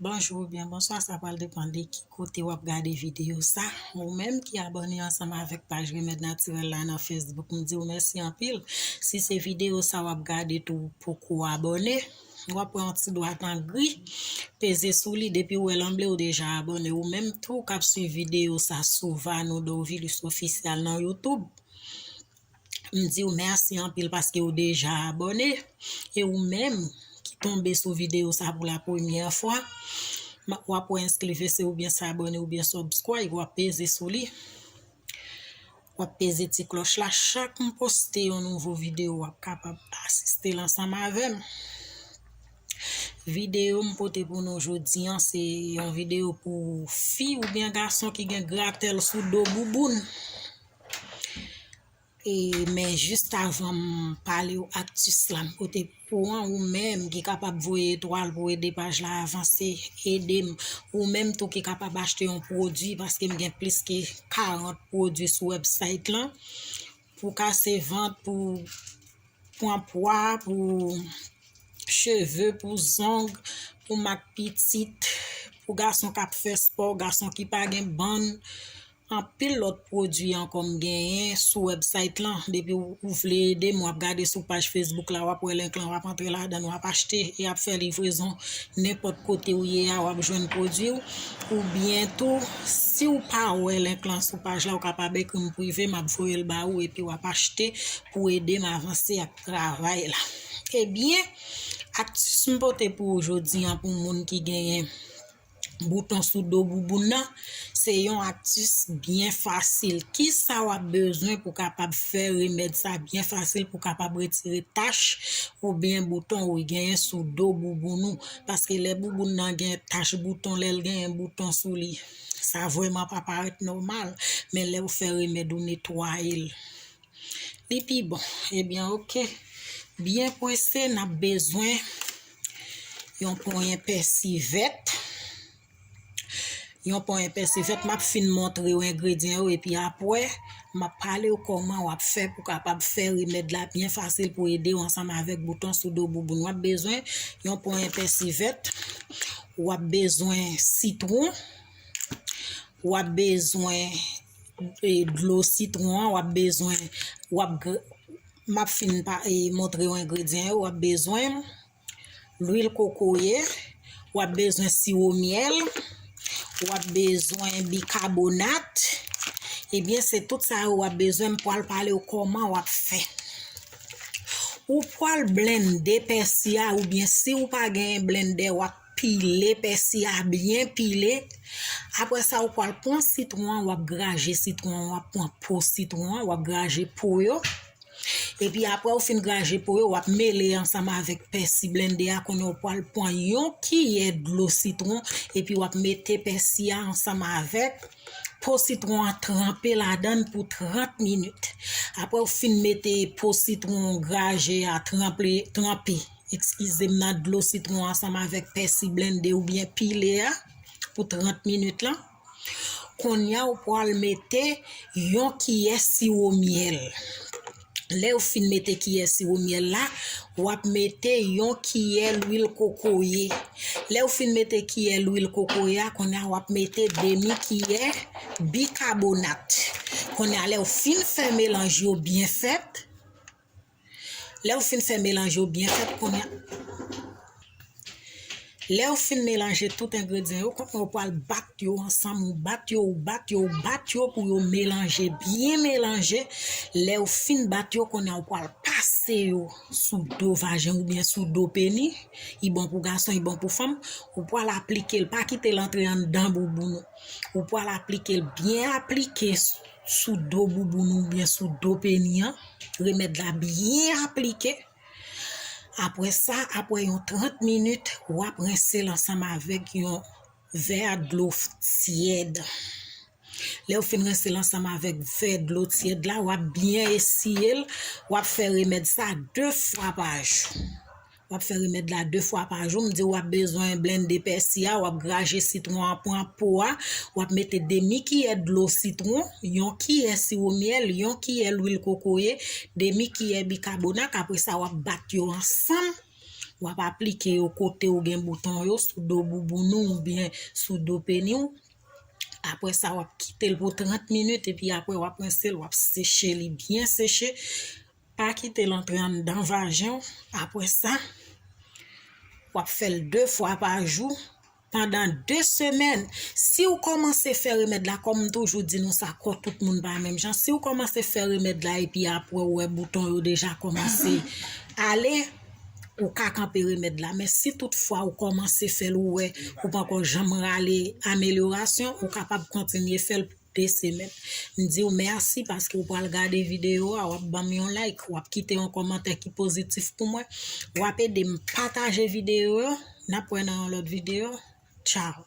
Bonjou ou byen bonswa sa pral depan de ki kote wap gade videyo sa ou menm ki abòne ansanm avèk paj remèd natirèl la nan facebook m diw mèsi anpil si se videyo sa wap gade tou ou poko abòne wap pran yon ti dwat an gri peze sou li depi ou wèl an ble ou deja abòne ou menm tou kap suiv videyo sa sou Vanou Dorvilus official nan youtube M di w mèsi anpil paske ou deja abòne e ou menm ki tonbe sou videyo sa pou la premyè fwa w ap wè enskri vè se oubyen se abòne oubyen subscribe w ap peze sou li w ap peze ti klòch la chak m poste yon nouvo videyo w ap kapab asiste l ansanm avè m videyo m pote pou nou jodi an se yon videyo pou fi oubyen gason ki gen gratèl sou do bouboun E men jist avanm palew aktis la m pote pou an ou menm ki kapab voye etwal pou ede paj la avanse edem ou menm tou ki kapab achte yon pwodwi paske m gen plis ke 40 pwodwi sou website lan pou kase vant pou pwan pwa pou cheve pou zong pou mak pitit pou gason kap fè spò gason ki pa gen bann Anpil lòt pwodwi ankò m genyen sou website lan depi ou vle ede m wap gade sou paj Facebook la wap wè link lan wap antre ladann wap achte e yap fè livrezon nenpòt kote ou ye a wap jwenn pwodwi w oubyen tou siw pa wè link lan sou paj la ou kapab ekri m prive map voye l ba ou epi wap achte pou w ede m avanse ak travay la. Ebyen aktis m pote pou ou jodi an pou moun ki genyen bouton sou do bouboun nan se yon aktis byen fasil kisa wap bezwen pou kapab fè remèd sa byen fasil pou kapab retire tach ou byen bouton ou genyen sou do bouboun nou paske lè bouboun nan gen tach bouton lè l genyen bouton sou li sa vweman pa parèt nòmal men lè ou fè remèd ou netwaye l li pi bon ebyen ok byen pwese nap bezwen Yon ponyen pèsi vèt. Yon ponyen pèsi vèt. M ap fin montre ou engredyen yo epi apre m ap pale ou kòman w ap fè pou kapab fè remèd la byen fasil pou ede ou ansanm avèk bouton sou do bouboun. W ap bezwen yon ponyen pèsi vèt. W ap bezwen sitwon. W ap bezwen dlo sitwon an. W ap bezwen... Map fin pa e montrew engredyan yo wap bezwen lwil kokoye wap bezwen siwo myèl wap bezwen bikabonat ebyen se tout sa yo wap bezwen m pwal palew koman wap fè ou pwal blennde pèsi a oubyen siw pa gen blennde wap Pile pèsi a byen pile, aprè sa ou pwal pwan sitwon an wap graje sitwon an wap pwan po sitwon an wap graje po yo, epi aprè ou fin graje po yo wap mele ansanm avèk pèsi blende a kounye ou pwal pwan yon kiyè dlo sitwon epi wap mete pèsi a ansanm avèk po sitwon an tranpe ladann pou 30 minit aprè ou fin mete po sitwon graje a tranpe. Ekskize m nan dlo sitwon ansanm avèk pèsi blende ou byen pile a pou 30 minit lan. Konya ou pwal mete yon kiyè siwo myèl. Lè ou fin mete kiyè siwo myèl la, wap mete yon kiyè lwil kokoye. Lè ou fin mete kiyè lwil kokoye a, konya wap mete demi kiyè bikabonat. Konya lè ou fin fè melanj yo byen fèt. Lè ou fin fè melanje ou byen fèt kounya Lè ou fin melanje tout engredyan yo kounya ou pwal bat yo ansanm ou bat yo ou bat yo ou bat yo pou yo melanje byen melanje lè ou fin bat yo kounya ou pwal pase yo sou do vajen ou byen sou do peni i bon pou gason i bon pou fanm ou pwal aplikel pa kitel antre anndan bouboun ou ou pwal aplikel byen aplike sou do bouboun ou byen sou do peni an. Remèd la byen aplike. Apre sa, apre yon 30 minit, w ap rense l ansanm avèk yon vè dlo tyèd. Lè ou fin rense l ansanm avèk vè dlo tyèd la, w ap byen esiye l, w ap fè remèd sa 2 fwa pa jou. Wap fè remèd la 2 fwa pa jou, m diw wap bezwen blende pèsi a, wap graje sitwon an, pran po a, wap mete demi kiyè dlo sitwon, yon kiyè siwo myèl, yon kiyè lwil kokoye, demi kiyè bikabonak, apre sa wap bat yo ansanm, wap aplike yo kotew gen bouton yo, sou do bouboun ou oubyen sou do peni w, apre sa wap kitel pou 30 minit epi apre wap rinsel wap seche li byen seche, Pa kite l antre anndan vajen w, apre sa, w ap fè l 2 fwa pa jou pandan 2 semèn. Si w kòmanse fè remèd la, kòm m toujou di nou sa, kò tout moun pa menm jan, si w kòmanse fè remèd la epi apre ou wè bouton yo deja kòmanse ale, ou ka kanpe remèd la. Men si tout fwa ou kòmanse fè l ou wè ou pa ko janm rale amelyorasyon, ou kapab kontinye fè l. Pese met. M diw merci paske ou pral gade video a wap banm yon like wap kite yon komantè ki pozitif pou mwen wap edem pataje video yo nap wè nan yon lot video ciao.